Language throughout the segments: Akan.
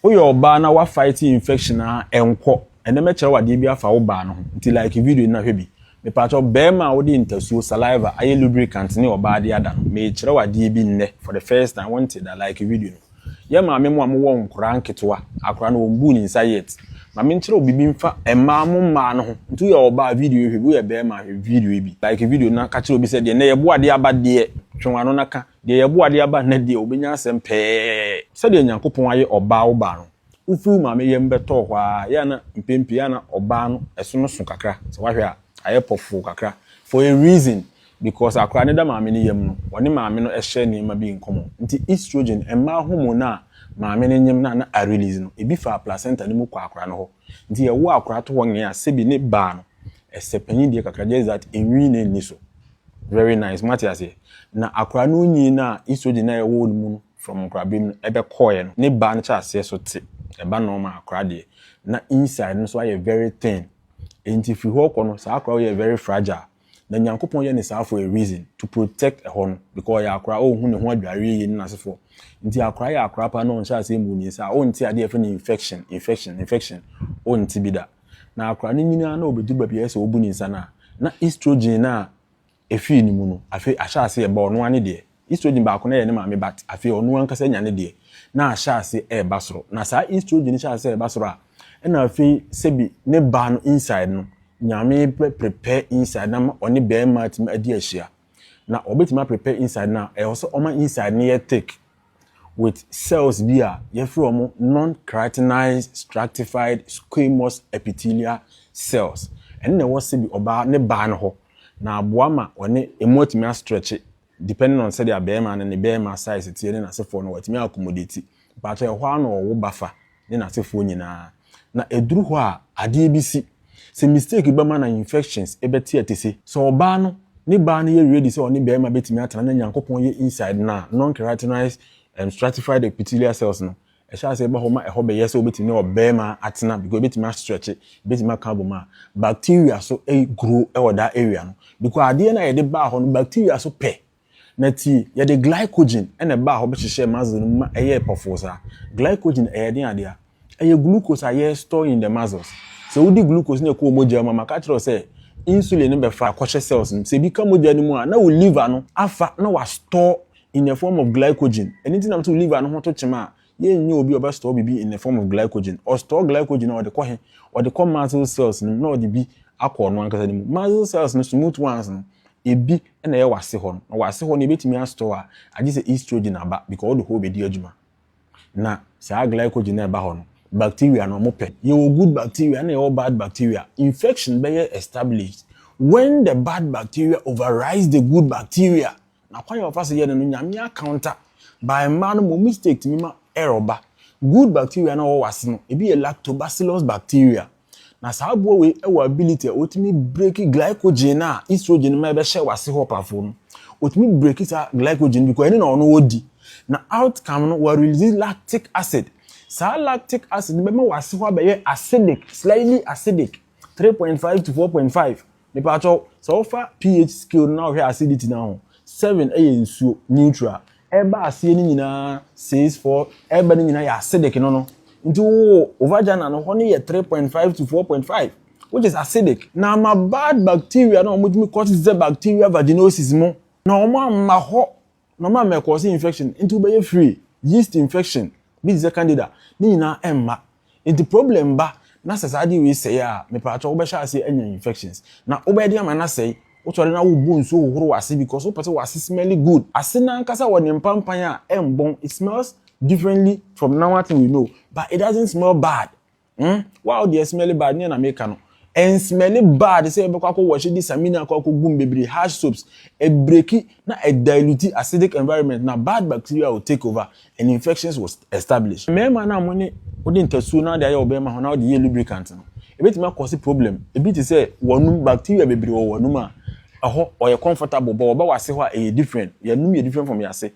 Woyɛ ɔbaa na wa fight infection a ɛnkɔ ɛnɛ mɛkyerɛ wo adeɛ bi afa wo baa no ho nti like video no na hwɛ bi mepakyɛw bɛɛma a wode ntasuo saliva ayɛ lubricant ne ɔbaa de ada no meekyerɛ wo adeɛ bi nnɛ for the first time wonte da like video no yɛ maame mo a mowɔ nkoraa nketewa akoraa no wɔn buu ne nsa yet ma menkyerɛ wo bibi mfa mmaa mo mmaa no ho nti woyɛ ɔbaa video yi hwɛ bi woyɛ bɛɛma hwɛ video yi bi like video no na ka kyerɛ obi sɛ deɛ nnɛ yɛboa adeɛ aba deɛ twe wano na ka Deɛ yɛbo adeɛ aba nnɛ deɛ ɔbɛnya asɛm pɛɛ. Sɛdeɛ Nyankopɔn ayɛ ɔbaa wo baa no wofiri wo maame yam bɛtɔɔ hɔ ara yɛ a na mpɛn pii na ɔbaa no ɛso no so kakra sɛ woahwɛ a ayɛ pɔfoo kakra for a reason because akwadaa no da maame no yam no ɔne maame no hyɛ nneɛma bi nkɔmɔ nti estrogen mmaa hormone no a maame no nyem no a na arelease no ebi faa placenta no mu kɔɔ akwadaa no hɔ nti yɛwoo akwadaa to hɔ nyɛ a sɛbi ne baa no ɛsɛ panyin deɛ kakra just that enwii na enni so. Very nice moate aseɛ na akora no nyin no a estrogen no a ɛwɔ no mu no from nkorabem no ɛbɛkɔɔɛ no ne ba no kyɛ aseɛ so te ɛba normal akora deɛ na inside no nso ayɛ very thin ɛnti firi hɔ kɔ no saa akora woyɛ very fragile na Nyankopɔn yɛ no saa for a reason to protect ɛhɔ no because ɔyɛ akora ɔnhu ne ho adwareɛ yie ne n'asefoɔ nti akora yɛ akora paa na ɔnhyɛ aseɛ mmu ne nsa a ɔnte adeɛ yɛfrɛ no infection infection infection ɔnte bi da. Na akora no nyini ara na obedu baabi a ɛyɛ sɛ wobu ne nsa no a, na estrogen no a efii ne mu no, afei ahyɛ ase reba ɔno ara ne deɛ. Estrogen baako no yɛ ne maame but afei ɔno ankasa anya ne deɛ, na ahyɛ ase reba soro. Na saa estrogen no hyɛ ase reba soro a, ɛna afei sɛbi ne ba no inside no, Nyame bɛ prepare inside no ama ɔne barima atumi adi ahyia. na wɔbɛtumi a prepare inside no a ɛwɔ sɛ wɔma inside no yɛ thick with cells bi a yɛfrɛ wɔn non-keratinized stratified squamous epithelial cells ɛno na ɛwɔ sɛ bi ɔbaa ne baa no hɔ na aboa ma wɔne emu atumi astretche depending on sɛdeɛ abɛɛma no ne bɛɛma size teɛ ne n'asefoɔ no wɔatumi accommodate mpakyɛ ɛhɔ ara na wɔwo ba fa ne n'asefoɔ nyinaa. Na ɛduru hɔ a adeɛ bi si. Sɛ mistake bɛma na infections bɛte atise. Sɛ ɔbaa no ne baa no yɛ ready sɛ ɔne barima bɛtumi atena na Nyankopɔn yɛ inside no a, non-keratinized and stratified epithelial cells no ɛhyɛ aseɛ ba hɔ ma ɛhɔ bɛyɛ sɛ ɔbɛtumi ne ɔbarima atena because ɛbɛtumi a stretche, ɛbɛtumi aka abom a bacteria so grow wɔ that area no because adeɛ no a yɛde baa hɔ no bacteria so pɛ Na tie, yɛde glycogen na ɛbaa hɔ bɛhyehyɛɛ muscle no mu ma ɛyɛɛ pɔfoo saa. Glycogen, ɛyɛ den adea. Ɛyɛ glucose a yɛ store in the muscles. Sɛ wodi glucose na ɛkɔɔ mogya mu a, maka akyerɛ wo sɛ insulin no bɛfa akɔhyɛ cells no mu. Sɛ ebi ka mogya no mu a, na wo liver no afa na wa store in the form of glycogen. Ɛno nti na mese wo liver no ho to kyema a, Yɛnyɛ obi a ɔbɛ store biribi in the form of glycogen. Ɔ store glycogen a ɔde kɔ he? Ɔde kɔ muscle cells no mu na ɔde bi akɔ ɔno ankasa ne mu. Muscle cells no, smooth ones no, ebi na ɛyɛ w'ase hɔ no. Na w'ase hɔ no yɛbɛtumi a store a, agye sɛ estrogen aba because ɔde hɔ bɛdi adwuma. Na saa glycogen no a ɛba hɔ no, bacteria no wɔpɛ. Yɛwɔ good bacteria na yɛwɔ bad bacteria. Infection bɛyɛ established when the bad bacteria overrides the good bacteria. Na kwan a wɔfa so yɛ no no, Nyame accounta by mma no mo mistake tumi ma error ba. Good bacteria no a ɔwɔ w'ase no, ebi yɛ lactobacillus bacteria. Na saa aboa wei wɔ ability a otumi break glycogen no a estrogen no ma ɛbɛhyɛ w'ase hɔ pafoɔ no. Otumi break saa glycogen no because ɛne na ɔno ɔdi. Na outcome no, wa release lactic acid. Saa lactic acid no bɛma w'ase hɔ abɛyɛ acidic, slightly acidic, three point five to four point five. Mepakyɛw, sɛ wofa pH scale no na wohwɛ acidity no a ho, seven yɛ nsuo, neutral, ɛba aseɛ no nyinaa six, four, ɛba no nyinaa yɛ acidic no no. Nti wo wo vagina no hɔ no yɛ three point five to four point five which is acidic. Na ama bad bacteria no a wɔtumi cause bacteria vaginosis mo, na wɔamma hɔ Normal ma ɛkɔɔse infection nti wobɛyɛ free, yeast infection bi te sɛ candida ne nyinaa ɛmma nti problem ba na sɛ saa adeɛ wei sɛe a mepaakyɛw wobɛhyɛ aseɛ anya infections na wobɛyɛ den ama no asɛe wosɔre no a wobu nsuo hohoro w'ase because wopɛ sɛ w'ase smelly good ase no ankasa wɔ ne mpampan a ɛmbɔn it smells differently from normal thing we know but it doesn't smell bad Hmm? Wow deɛ smelly bad neɛ na meka no. And smelly bad sɛ yɛbɛkɔ akɔ wɔhye de samina akɔ akɔ gum bebree harsh soaps. Ɛbreki na ɛdiluti acidic environment na bad bacteria will take over and infections will establish. Mmarima no a mo ne wode ntasuo na ade ayɛ wo bɛrima ho na wode yɛ lubricant no, ɛbɛtumi akɔse problem. Ebi te sɛ w'anum bacteria bebree wɔ w'anum a ɛhɔ ɔyɛ comfortable but wɔba w'ase hɔ a ɛyɛ different. Yɛn anum yɛ different from yɛn ase.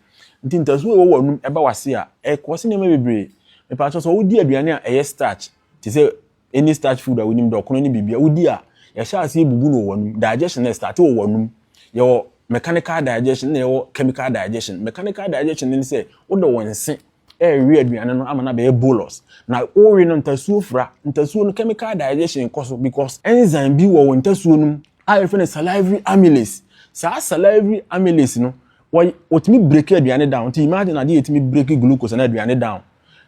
Nti ntasu a ɛwɔ w'anom ba w'ase a, ɛkɔse nneɛma bebree. Mepakyɛw sɛ wodi aduane a ɛyɛ starch te sɛ any starch food a wonim dɛ ɔkono ne biribiara wodi a, yɛhyɛ aseɛ bubu no wɔ w'anom. Digestion no starte wɔ w'anom. Yɛwɔ mechanical digestion na yɛwɔ chemical digestion. Mechanical digestion no ne sɛ wode wo nse ɛrewe aduane no ama no abɛyɛ bolus. Na wowe no ntasuo fura. Ntasuo no chemical digestion kɔ so because enzyme bi wɔ wo ntasuo no mu a yɛfrɛ no salivary amylase. Saa salivary amylase no wɔy wɔtumi break aduane down. Nti imagine adeɛ a ɛtumi break glucose anaa aduane down.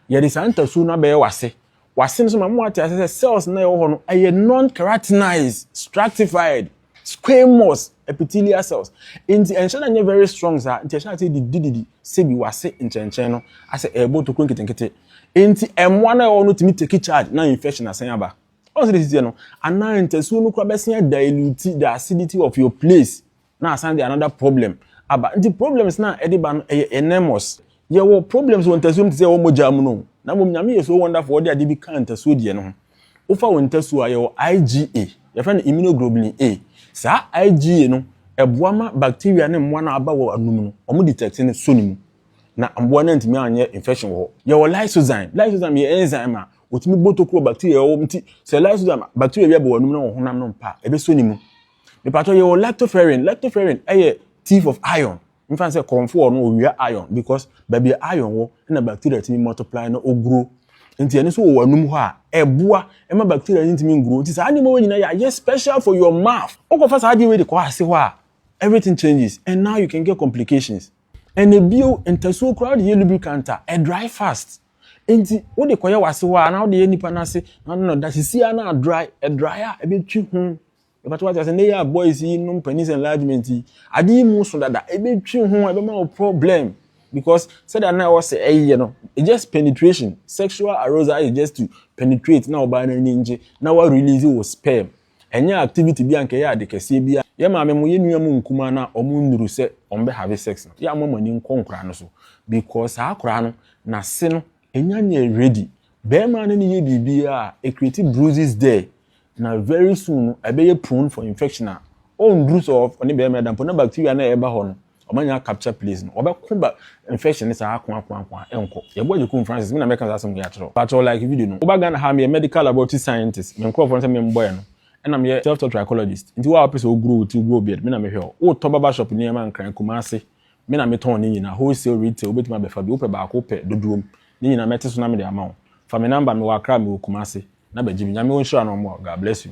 Yɛde saa ntasuo no abɛyɛ w'ase Wɔ ase no nso, ma mo ate ase sɛ cells no a ɛwɔ hɔ no yɛ non-keratinized, stratified, squamous epithelial cells. Enti ɛnhyɛ da nyɛ very strong saa, nti ɛhyɛ ase didididi sɛ bi wɔ ase nkyɛnkyɛn no asɛ ɛrebɔ tokuro nketenkete. Enti mmoa no a ɛwɔ hɔ no tumi take charge na infection asan aba. Ɔn sɛ de sisi no, anaa ntasuo no koraa bɛsan dilute the acidity of your place na asan de another problem aba nti problems na ɛde ba no ɛyɛ enormous yɛwɔ problems wɔ ntasuo mu te sɛ ɛwɔ mogya mu no na mmom nyame yɛ so wonderful ɔde ade bi ka ntasuo deɛ no ho wofa wɔ ntasuo a yɛwɔ IgA yɛfrɛ no immunoglobulin A saa IgA no ɛboa ma bacteria ne mmoa no aba wɔ anum no wɔn detect no so ne mu na mmoa no ntumi anyɛ infection wɔ hɔ yɛwɔ lysozyme lysozyme yɛ enzyme a wɔtumi bɔ tokuro bacteria ɛwɔ nti sɛ lysozyme bacteria bi abɔ wɔ anum no wɔ honam no mpa ɛbɛsɔ ne mu mepatɔ yɛ wɔ lactoferrin lactoferrin ɛyɛ thief of iron nfa sɛ kɔnfo ɔno owia iron because baabi a iron wɔ na bacteria tumi multiply na oguro nti ɛno nso wɔ anum hɔ a ɛboa ɛma bacteria no ntumi nguro nti saa nneɛma wɔ nyinaa yɛ ayɛ special for your mouth wokɔfa saa adeɛ wei de kɔ ase hɔ a everything changes and now you can get complications and ebio ntasuo koraa de yɛ lubricant a ɛ dry fast nti wode kɔyɛ wase hɔ a na wode yɛ nipa no ase na no da sisi a na dry ɛ dry a ɛbɛtwi ho Ɛbɛto ate asɛ, ne yɛ a boys yi nom penis enlargement yi, ade yi mu so dada, ɛbɛtwi ho, ɛbɛma wo problem. Because sɛdeɛ na ɛwɔ sɛ ɛyɛ no, it's just penetration. Sexual arousal is just to penetrate na ɔbaa no ani ngye na wa release wo sperm. Ɛnyɛ activity bi a nka ɛyɛ ade kɛseɛ bi a. Yɛ maame mo, yɛ nua mo nkumaa no a wɔn nnuru sɛ wɔn bɛ have sex no, yɛ a mo ama mo ani nkɔ nkoraa no so. Because saa akoraa no, n'ase no Enya nyɛ ready. Bɛɛma no ne yɛ biribiara a, e create bruises there, na very soon no ɛbɛyɛ prone for infection a, ɔnduru sɛ ɔne bɛɛma ɛda mpo na bacteria no a ɛba hɔ no, ɔma nya capture place no, ɔbɛko ba infection no saa ako ako ako a, ɛnkɔ. Yɛ boa Agyekun Francis, me na mɛka saa asɛm wei akyerɛ wo. Pakyɛw like video no. Woba Ghana ha a, meyɛ medical laboratory scientist, me nkorɔfoɔ no sɛ memmɔ yɛ no, ɛna meyɛ self-taught trichologist, nti wo a wopɛ sɛ wo grow wo ti, wo grow beard, me na mehwɛ wo. Wotɔ barbershop nneɛma Nkran, Kumasi. Me na metɔn ne nyina, wholesale, retail, wobɛtumi abɛfa bi, wopɛ baako, wopɛ dodoɔm, ne nyina mɛte so na mede ama wo. Fa me number, mewɔ Accra, mewɔ Kumasi, na bɛgye bi. Nyame ɔnhyira na ɔmmoa wo. God bless you.